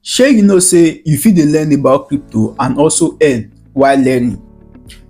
Shey you know say you fit dey learn about crypto and also earn while learning?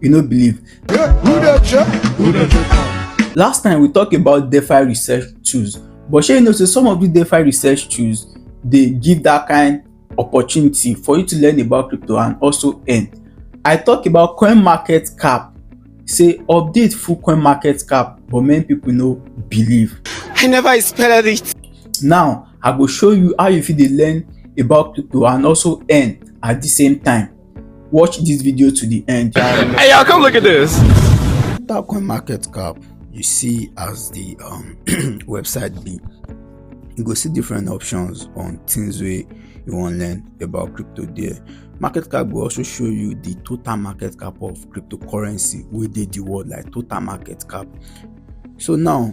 You no believe? Last time we talk about DeFi research tools but shey you know say some of these DeFi research tools dey give that kind opportunity for you to learn about crypto and also earn. I talk about coin market cap say update full coin market cap but many people no believe. I never expected it. Now I go show you how you fit dey learn about crypto and also earn at the same time. Watch this video to the end. Hey y'all, come look at this. That coin market cap you see as the um, website be. You go see different options on things wey you wan learn about crypto there. Market cap go also show you the total market cap of cryptocurrency wey dey the world like total market cap. So now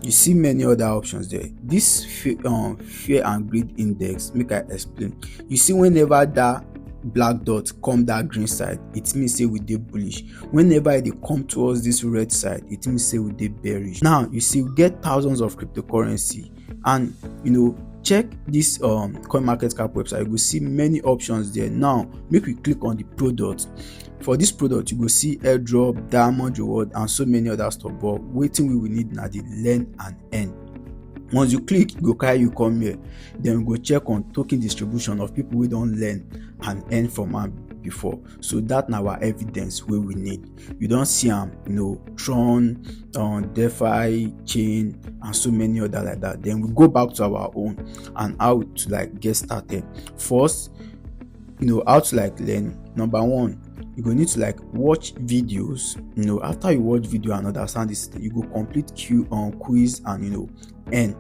you see many other options there this fear, um, fear and greed index make i explain you see whenever that black dot come that green side it means say we dey bullish whenever e dey come towards this red side it means say we dey bearish now you see we get thousands of cryptocurrency and you know check this um coin market cap website you go see many options there now make we click on the product for this product you go see airdrop diamond reward and so many other stuff but wetin we will need na the learn and earn once you click e go carry you come here then we go check on token distribution of people wey don learn and earn from am before so that na our evidence wey we need you don see am you know tron um, defi chain and so many other like that then we go back to our own and how to like get started first you know how to like learn number one you go need to like watch videos you know after you watch video and understand this you go complete q on um, quiz and you know and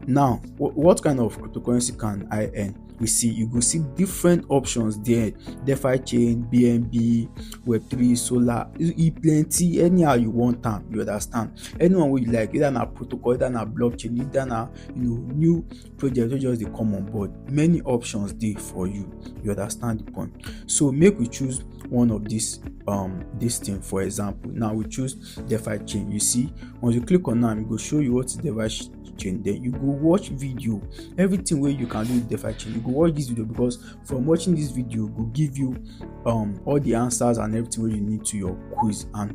now what, what kind of cryptocurrency can i earn we see you go see different options there defi chain bnb web3 solar e plenty anyhow you want am you understand anyone wey you like either na protocol either na blockchain either na you know new project wey just dey come on board many options dey for you you understand the point so make we choose one of this um this thing for example now we choose defi chain you see once you click on am e go show you what is defi chain then you go watch video everything wey you can do with defi chain you go watch this video because from watching this video go give you um all the answers and everything wey you need to your quiz and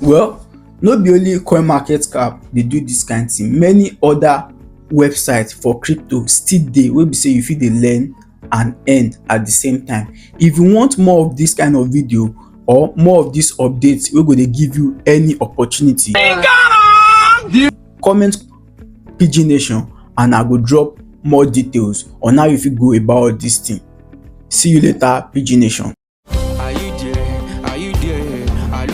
Well, no be only CoinMarketCap dey do this kind thing. Many other websites for crypto still dey wey be say you fit dey learn and earn at the same time. If you want more of this kind of video or more of this updates wey go dey give you any opportunity, comment PG Nation and I go drop more details on how you fit go about this thing. See you later, PG Nation.